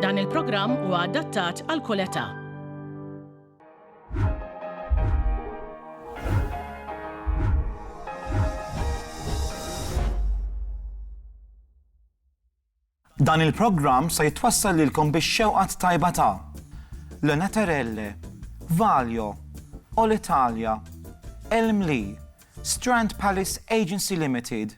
Dan il-programm huwa adattat għal kull età. Dan il-programm se jitwassal lilkom biex xewqat tajba ta' Lena Terelle, Valjo, All Italia, Elmli, Strand Palace Agency Limited,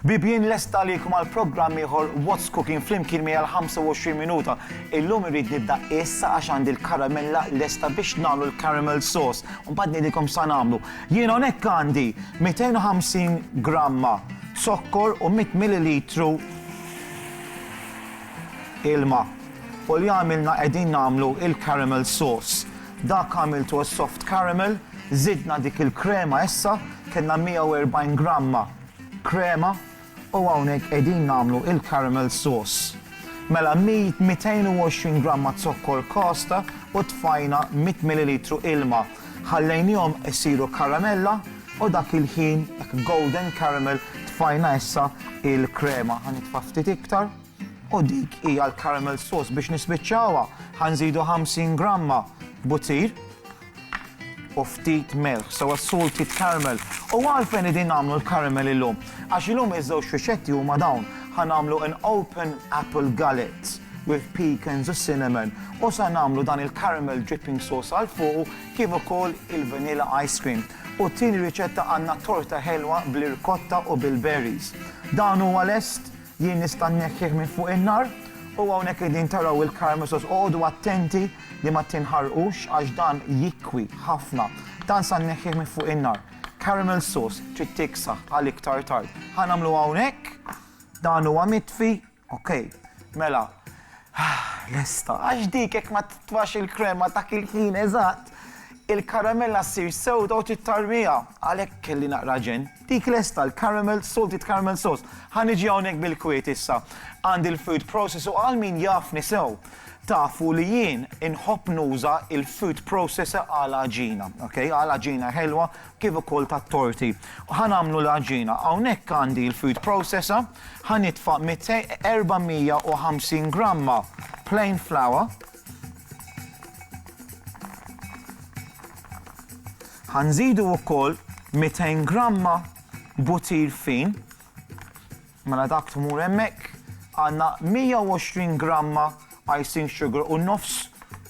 Bibien lest għalikom għal programm ieħor What's Cooking flimkien miegħi għal 25 minuta. Illum irrid nibda issa għax għandi l-karamella lesta biex nagħmlu l-caramel sauce. Mbagħad ngħidilkom sa nagħmlu. Jien hawnhekk għandi 250 gramma zokkor u 100 millilitru ilma. U li għamilna qegħdin nagħmlu il-caramel sauce. Dak għamiltu għas-soft caramel, żidna dik il-krema issa, kellna 140 gramma krema u hawnhekk qegħdin nagħmlu il-caramel sauce. Mela 220 gramma zokkor kasta u tfajna 100 millilitru ilma. Ħallejnihom isiru karamella u dak il-ħin, hekk golden caramel, tfajna issa il-krema. Ħa nitfa' ftit iktar. U dik hija l-caramel sauce. Biex nispiċċawha, ħa nżidu 50 gramma butir u ftit milħ, so a salted caramel. U għalfejn qegħdin nagħmlu l-caramel illum? Għax illum iż-żewġ riċetti huma dawn, ħa nagħmlu an open apple gullet with pecans u cinnamon u sa nagħmlu dan il-caramel dripping sauce għal fuqu kif ukoll il-vanilla ice cream. U t-tieni riċetta għandna torta ħelwa bl-irkotta u bil-berries. Dan huwa lest? Jien nista' nneħħih minn fuq in-nar, u hawnhekk qegħdin taraw il-karmesos. Oqogħdu attenti li ma tinħarqux għax dan jikwi ħafna. Dan sa nneħħih minn fuq in-nar. Caramel sauce trid tiksaħ għal iktar tard. Ħa nagħmlu hawnhekk, dan huwa mitfi, ok. Mela, lesta. Għax dik jekk ma titfax il-krema dak il-ħin eżatt, il-karamella ssir sewda u tittarrmiha. Għalhekk kelli naqra ġenn. Dik lesta, l-caramel, salted caramel sauce. Ħa niġi hawnhekk bil-kwiet issa għand il-food process u għal min jafni sew, tafu li jien inħobb nuża il-food processor għal għaġina, ok, għal għaġina ħelwa kif ukoll tat-torti. Ħa nagħmlu l-għaġina. Hawnhekk għandi l-food processor, ħa nitfa' 450 gramma plain flour, Ħa nżidu wkoll 200 gramma butir fin. Mela dak tmur hemmhekk għandna 120 gramma icing sugar u nofs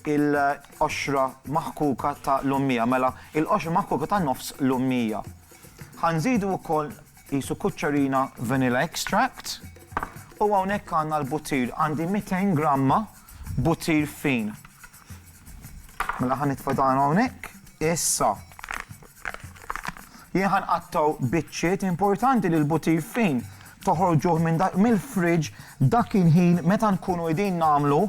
il-qoxra maħkuka ta' l-ummija, mela il-qoxra maħkuka ta' nofs l-ummija. Ħanżidu wkoll jisu kuċċarina vanilla extract u hawnhekk għandna l-butir għandi 200 gramma Butir fin. Mela ħa nitfa' dan hawnhekk. Issa. Jien ħan qattaw biċċiet importanti li l-butir fin toħorġuh minn mill-friġ dak il-ħin meta nkunu qegħdin nagħmlu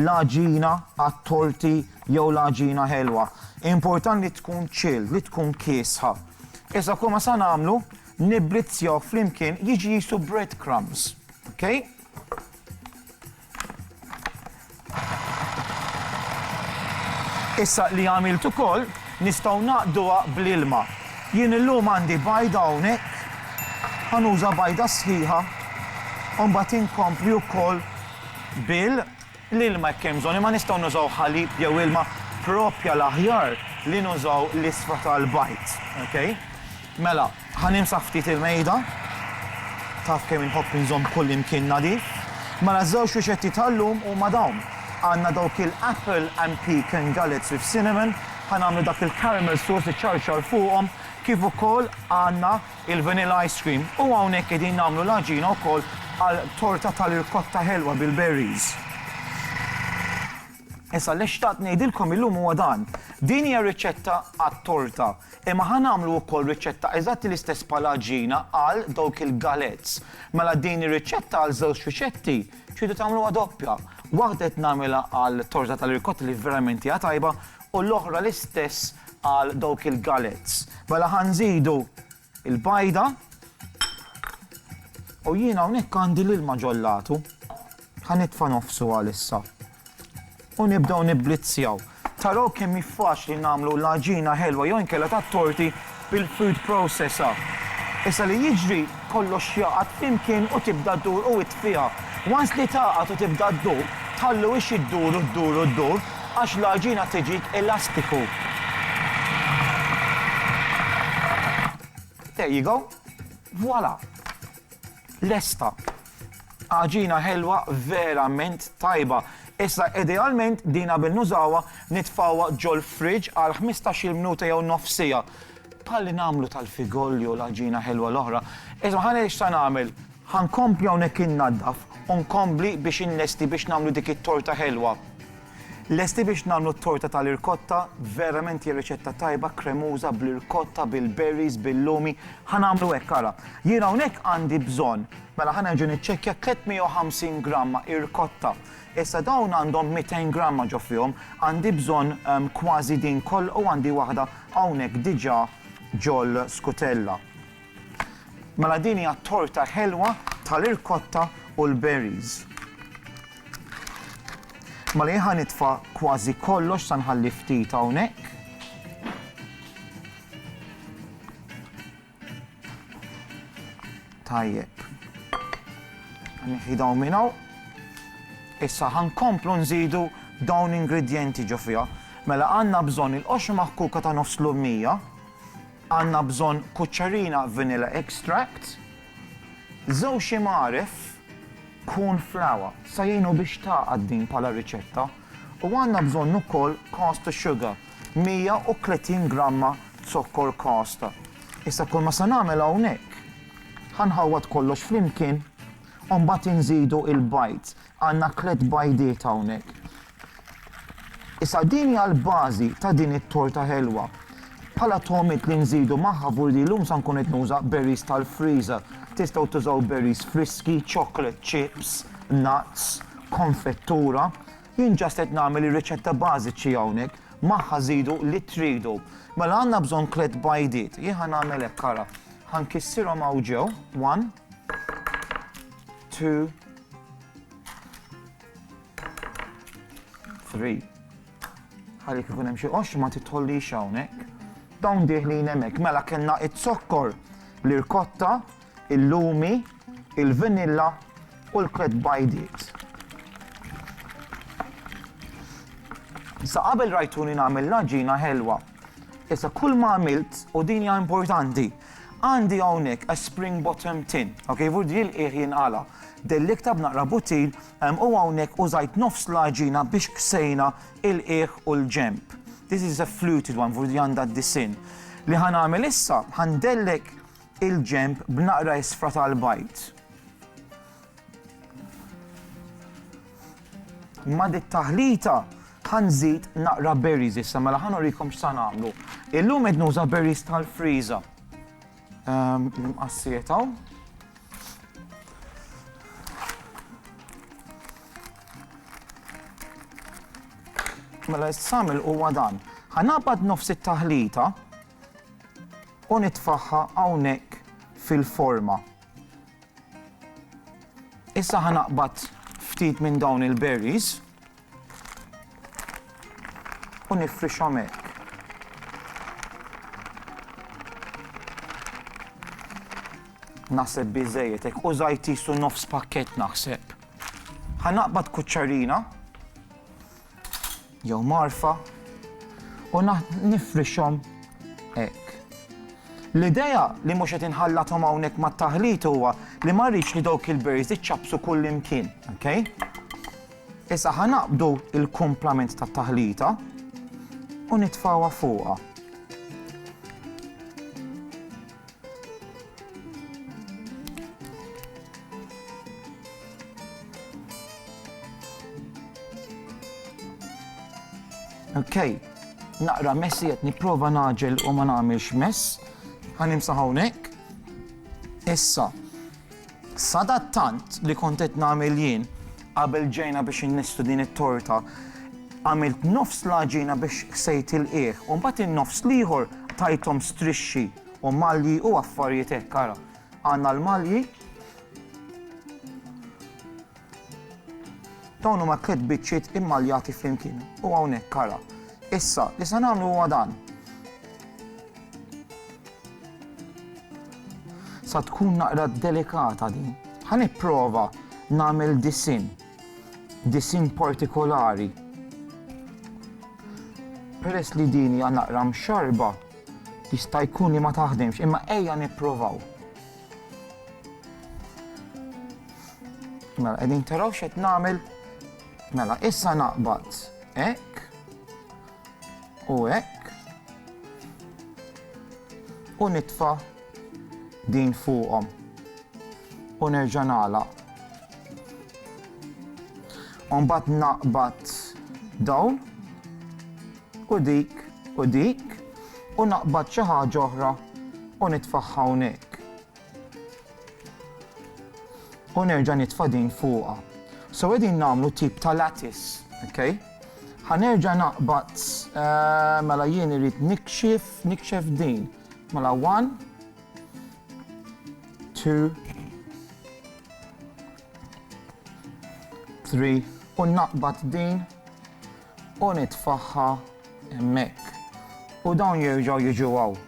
l-aġina għat-torti jew l-aġina ħelwa. Important li tkun ċil, li tkun kiesħa. Issa kull ma sa nagħmlu niblizzjaw flimkien jiġi jisu breadcrumbs. Okay? Issa li għamilt ukoll, nistgħu naqduha bl-ilma. Jien illum għandi bajda hawnhekk, ħa nuża bajda sħiħa u mbagħad inkompli wkoll bil-ilma jekk hemm bżonn, imma nistgħu nużaw ħalib jew ilma proprja l-aħjar li nużaw l-isfra tal-bajd. Okay? Mela, Ħa nimsaħ ftit il-mejda. Taf kemm inħobb inżomm kullimkien nadif. Mela ż-żewġ riċetti tal-lum huma dawn. Għandna dawk il-apple and pecan galettes with cinnamon, ħa nagħmlu dak il-caramel sauce iċċarċar fuqhom, kif ukoll għandna il-vanilla ice cream. U hawnhekk qegħdin nagħmlu l-għaġina wkoll għal torta tal-irkotta ħelwa bil-berries. Issa li xtaqt ngħidilkom illum huwa dan, din hija riċetta għat-torta, imma ħa nagħmlu wkoll riċetta eżatt l-istess bħal għaġina għal dawk il-galets. Mela din ir-riċetta għal żewġ riċetti tridu tagħmluha doppja. Waħda qed nagħmilha għal torta tal-irkotta li verament hija tajba u l-oħra l-istess għal dawk il-galets. Mela ħa nżidu Il-bajda. U jien hawnhekk għandi l-ilma ġollatu. Ħa nitfa' nofsu għalissa. U nibdew nibblizzjaw. Taraw kemm hi faċli nagħmlu l-għaġina ħelwa jew inkella tat-torti bil-food processor. Issa li jiġri kollox jaqgħad flimkien u tibda ddur u ittfiha. Once li tagħqad u tibda ddur, tħallu hix iddur u ddur u ddur. Għax l-għaġina tiġik elastiku. There you go. Voilà. Lesta. Għaġina ħelwa verament tajba. Issa idealment din qabel nużawha nitfawha ġol fridge għal 15-il minuta jew nofsija. Palli nagħmlu tal-figolli u l-għaġina ħelwa l-oħra. Isma' ħa ngħid x'sa nagħmel. Ħa nkompli hawnhekk innaddaf u nkompli biex inlesti biex nagħmlu dik it-torta ħelwa. Lesti biex nagħmlu t-torta tal-irkotta, verament hija riċetta tajba, kremuża, bl-irkotta, bil-berries, bil-lumi. Ħa nagħmlu hekk, ara. Jien hawnhekk għandi bżonn, mela ħa nerġa' niċċekkja, 350 gramma irkotta. Issa dawn għandhom 200 gramma ġo fihom, għandi bżonn kważi din kollha u għandi waħda hawnhekk diġà ġol-skutella. Mela din hija t-torta ħelwa tal-irkotta u l-berries. Mela jien ħa nitfa' kważi kollox sa nħalli ftit hawnhekk. Tajjeb. Nħidaw minn hawn. Issa ħankomplu nżidu dawn ingredjenti ġo fiha. Mela għandna bżonn il-qoxra maħkuka ta' nofs l-ummija, Għandna bżonn kuċċarina vanilla extract, żewġ imgħaref corn flour se jgħinu biex tagħqad din bħala riċetta u għandna bżonn ukoll caster sugar, 130 gramma zokkor caster. Issa kull ma se nagħmel hawnhekk, ħa nħawwad kollox flimkien u mbagħad inżidu il-bajd. Għandna tliet bajdiet hawnhekk. Issa din hija l-bażi ta' din it-torta ħelwa. Bħala togħmiet li nżidu magħha vurdi llum sa nkun qed nuża berries tal-freezer. Tistgħu tużaw berries friski, chocolate chips, nuts, konfettura. Jien just qed nagħmel ir-riċetta bażiċi hawnhekk. Magħha żidu li tridu. Mela għandna bżonn tliet bajdiet. Jien ħa nagħmel hekk ara. Ħa nkissirhom hawn ġew, one, two, Three. Ħalli kif hemm xi qoxx ma titħollix hawnhekk. Dawn diħlin hemmhekk mela kellna it-zokkor, l-irkotta, il-lumi, il-vanilla u l-klet bajdiet. Sa qabel rajtuni nagħmel l-ġina ħelwa, Issa kull ma għamilt, u din hija importanti, għandi hawnhekk a spring bottom tin, ok, vur di l-qiegħ jinqala. Dellikta b'naqra buttil u hawnhekk użajt nofs l-għaġina biex ksejna il-qiegħ u l-ġenb. This is a fluted one, vur di għandha d-disinn. Li ħa nagħmel issa, ħa ndellek il-ġenb b'naqra isfra tal-bajd. Ma' dit taħlita ħanżid naqra berries issa mela ħan urikom x'sa nagħmlu. Illum qed nuża berries tal-friża. Ehm, Mqassiet hawn. Mela s-samil huwa dan. Ħanabad nofs it-taħlita u nitfaħħa hawnhekk fil-forma. Issa ħa naqbad ftit minn dawn il-berries u nifrixhom hekk. Naħseb biżejjed hekk u żajt isu nofs pakkett naħseb. Ħa naqbad kuċċarina jew mgħarfa u nifrixhom hekk. L-idea li mhux qed inħallathom hawnhekk mat-taħlit huwa li ma rridx li dawk il-berries iċċappsu kullimkien, ok? Issa ħa naqbdu l-kumplament tat-taħlita u nitfgħuha fuqha. Ok, naqra messy qed nipprova nagħġel u ma nagħmilx mess. Ħa nimsaħ hawnhekk. Issa, Sadattant li kont qed nagħmel jien, qabel ġejna biex innistu din it-torta, għamilt nofs l-għaġina biex ħsejt il-qiegħ u mbagħad in-nofs l-ieħor tajthom strixxi u malji u affarijiet hekk, ara. Għandna l-malji. Dawn huma tliet biċċiet immaljati flimkien u hawnhekk ara. Issa, li se nagħmlu huwa dan. Sa tkun naqra delikata din. Ħa nipprova nagħmel disin. Disin partikolari. Peress li din hija naqra mxarba, jista' jkun li ma taħdimx, imma ejja nipprovaw. Mela, qegħdin taraw x'qed nagħmel. Mela, issa naqbad hekk u hekk u nitfa' din fuqhom u nerġa' nagħlaq. Mbagħad naqbad dawn u dik, u dik, u naqbad xi ħaġa oħra u nitfagħha hawnhekk. U nerġa' nitfa' din fuqha. So qegħdin nagħmlu tip ta' lattice, okay? Ħa nerġa' naqbad, eh, mela jien irrid nikxif, nikxef din. Mela one, two, three, u naqbad din U nitfagħha hemmhekk. U dawn jerġgħu jiġu hawn.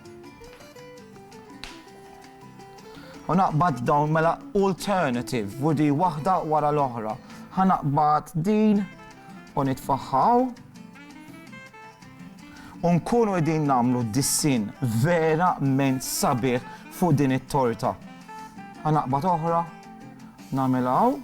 U naqbad dawn mela alternative u di waħda wara l-oħra. Ħa naqbad din u nitfagħha hawn. U nkunu qegħdin nagħmlu dissin verament sabiħ fuq din it-torta. Ħa naqbad oħra, nagħmilha hawn.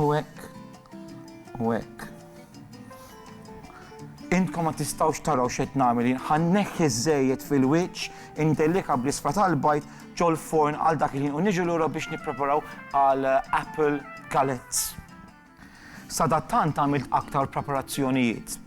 U hekk, u hekk. Intkom ma tistgħux taraw x'qed nagħmel jien. Ħa nneħħi ż-żejjed fil-wiċċ, indellika bl-isfra tal-bajd ġol-forn għal dak il-ħin u niġu lura biex nippreparaw għal apple galettes. Sadattant għamilt aktar preparazzjonijiet.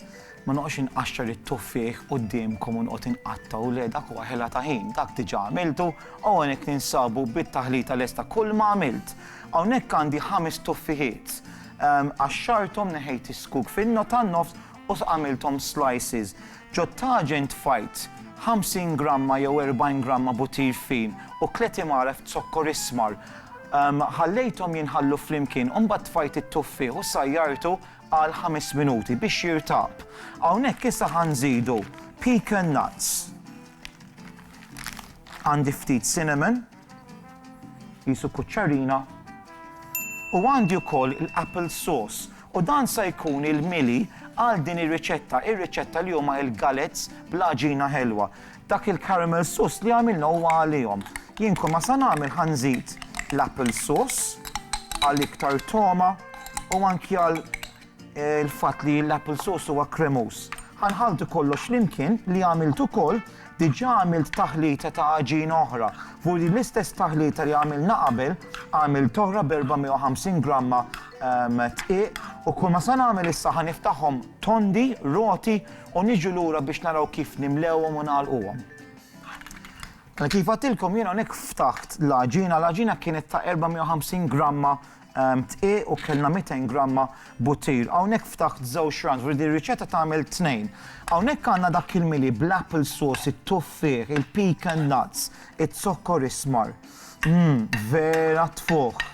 Ma noqgħodx inqaxxar it-tuffieħ quddiemkom u noqgħod inqattgħu, le, dak huwa ħela ta' ħin, dak diġà għamiltu, hawnhekk ninsabu bit-taħlita lesta. Kulma għamilt. Hawnhekk għandi ħames tuffieħiet. Qaxxarthom, neħejt is-skuk fin-nofs u għamilthom slices. Ġottaġi ntfajt, 50 gramma jew 40 gramma butir fin u tliet imgħalef zokkor ismar. Ħallejthom jinħallu flimkien u mbagħad tfajt it-tuffieħ u sajjartu għal ħames minuti biex jirtab. Hawnhekk issa ħa nżidu pecan nuts. Għandi ftit cinnamon. Qisu kuċċarina. U għandi wkoll l-apple sauce u dan sa jkun il-mili għal din ir-riċetta, ir-riċetta li huma l-galettes bl-għaġina ħelwa. Dak il-caramel sauce li għamilna huwa għalihom. Jien kull ma sa nagħmel ħa nżid l-apple sauce għal iktar togħma u anki għal Il-fatt li l-apple sauce huwa kremuż. Ħa nħalltu kollox flimkien li għamilt ukoll, diġà għamilt taħlita ta' għaġina oħra. Fuq din l-istess taħlita li għamilna qabel, għamilt oħra b'450 gramma dqiq u kulma se nagħmel issa ħa niftaħhom tondi, roti u niġu lura biex naraw kif nimlewhom u nagħlquhom. Mela kif għattilkom jien hawnhekk ftaħt l-għaġina, l-għaġina kienet ta' 450 gramma dqiq u kellna 200 gramma buttir. Hawnhekk ftaħt żewġ runs, ġifieri din ir-riċetta tagħmel tnejn. Hawnhekk għandna dak il-mili bl-apple sauce, it-tuffieħ, il-pecan nuts, iz-zokkor ismar. Mmm, vera tfuħ.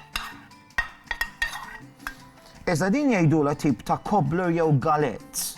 Iżda din jgħidulha tip ta' cobbler jew galette.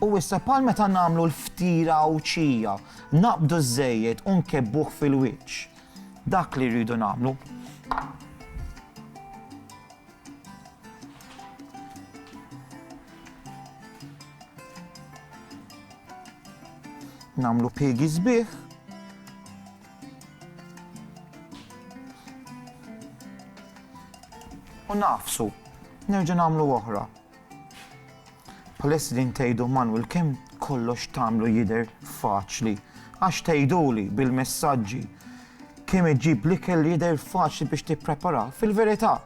U issa bħal meta nagħmlu l-ftira Għawdxija, naqbdu ż-żejjed u nkebbuh fil-wiċċ. Dak li rridu nagħmlu. Nagħmlu piegi sbieħ. U nafsu, nerġa' nagħmlu oħra. Bħalissa qegħdin tgħidu Manwil kemm kollox tagħmlu jidher faċli. Għax tgħiduli bil-messaġġi kemm iġġib l-ikel li jidher faċli biex tippreparah, fil-verità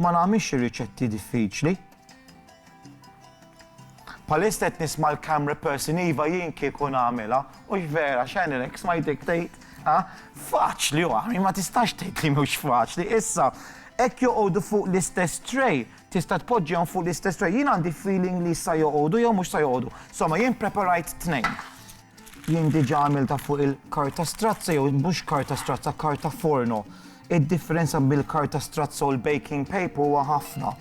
ma nagħmilx ir-riċetti diffiċli. Bħalissa qed nisma' l-camera person iva jien kieku nagħmilha, hux vera x'għenilek smajtek tgħid ha? Faċli u ma tistax tgħid li mhux faċli. Issa, hekk joqogħdu fuq l-istess tray Tista' tpoġġihom fuq l-istess tray? Jien għandi feeling li sa joqogħdu jew mhux sa joqogħdu. Somma jien preparajt tnejn. Jien diġà għamiltha fuq il-karta strazza jew mhux karta strazza, karta forno. Id-differenza bil-karta strazza u l-baking paper huwa ħafna.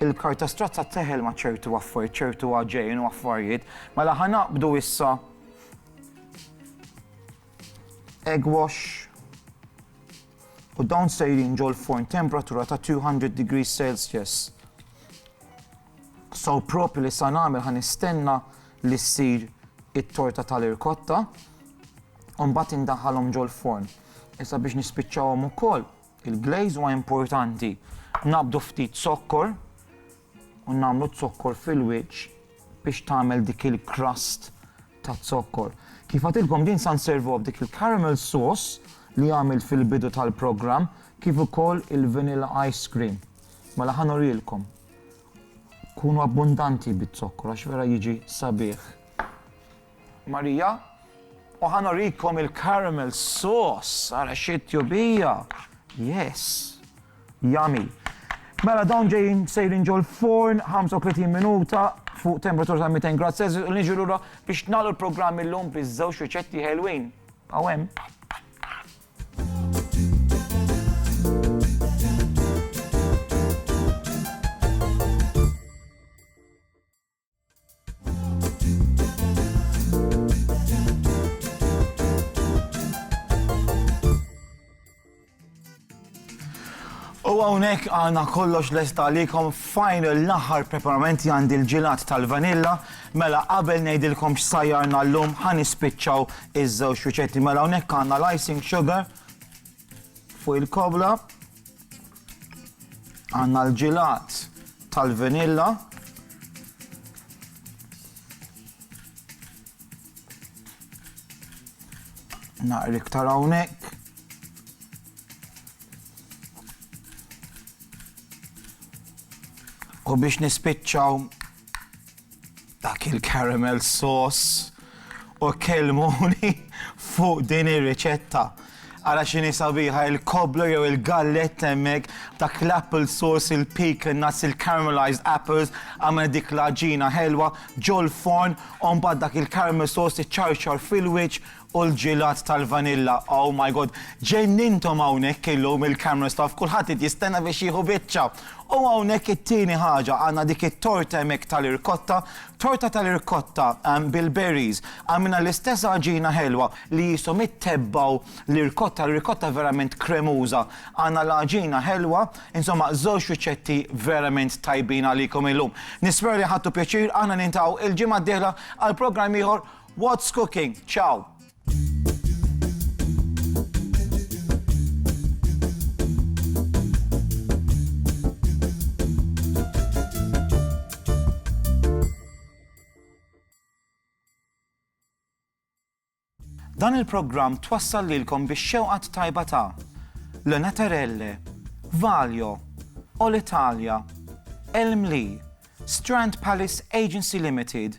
Il-karta strazza teħel ma' ċertu affarijiet, ċertu għaġejn u affarijiet, mela ħa naqbdu issa egg wash u dawn sejrin ġol-furn temperatura ta' 200 degrees Celsius. So proprju li sa nagħmel ħa nistenna li ssir it-torta tal-irkotta u mbagħad indaħħalhom ġol-furn. Issa biex nispiċċawhom ukoll il-glaze huwa importanti nabdu ftit zokkor u nagħmlu z-zokkor fil-wiċċ biex tagħmel dik il-crust taz-zokkor. Kif għadtilkom din sa nservuha b'dik il-caramel sauce li għamilt fil-bidu tal-programm kif ukoll il-vanilla ice cream. Mela ħa nurilkom. Kunu abbundanti biz-zokkor għax vera jiġi sabiħ. Marija, u ħa nurikom il-caramel sauce, ara xi tjubija! Yes! Yummy! Mela dawn ġejjin sejrin ġol forn 35 minuta fuq temperatura ta' 200 grad Celsius u niġu lura biex nagħlu l-programm illum biż-żewġ riċetti ħelwin. Aw hemm. U għawnek għana kollox lest għalikom final l-aħħar preparamenti għandi l-ġilat tal-vanilla, mela qabel nejdilkom x'sajjarna l-lum ħan ispiċċaw iż-żewġ riċetti mela għawnek għanna l-icing sugar Fuq il-kobla għandna l-ġilat tal-vanilla naqri iktar hawnhekk. U biex nispiċċaw Dak il-caramel sauce! U kellmuni fuq din ir-riċetta! Ara x'inhi sabiħa il-cobbler jew il-galletta hemmhekk b'dak l-apple sauce, il-pecan nuts, il-caramelized apples, għamel dik l-għaġina ħelwa ġol-forn u mbagħad dak il-caramel sauce iċċarċar fil-wiċċ U l-ġilat tal-vanilla, oh my God! Ġenninthom hawnhekk illum il-camera staff, kulħadd qed jistenna biex jieħu biċċa. U hawnhekk it-tieni ħaġa, għandna dik it-torta hemmhekk tal-irkotta, torta tal-irkotta bil-berries, għamilna l-istess għaġina ħelwa li qishom ittebgħu l-irkotta, l-irkotta verament kremuża. Għandna l-għaġina ħelwa, insomma żewġ riċetti verament tajbin għalikom illum. Nispera li ħadtu pjaċir, aħna niltaqgħu il-ġimgħa d-dieħla għal programm ieħor What's cooking? Ciao! Dan il-programm twassal lilkom bix-xewqat tajba ta' Le Naterelle, Valjo, All Italia, Elmli, Strand Palace Agency Limited,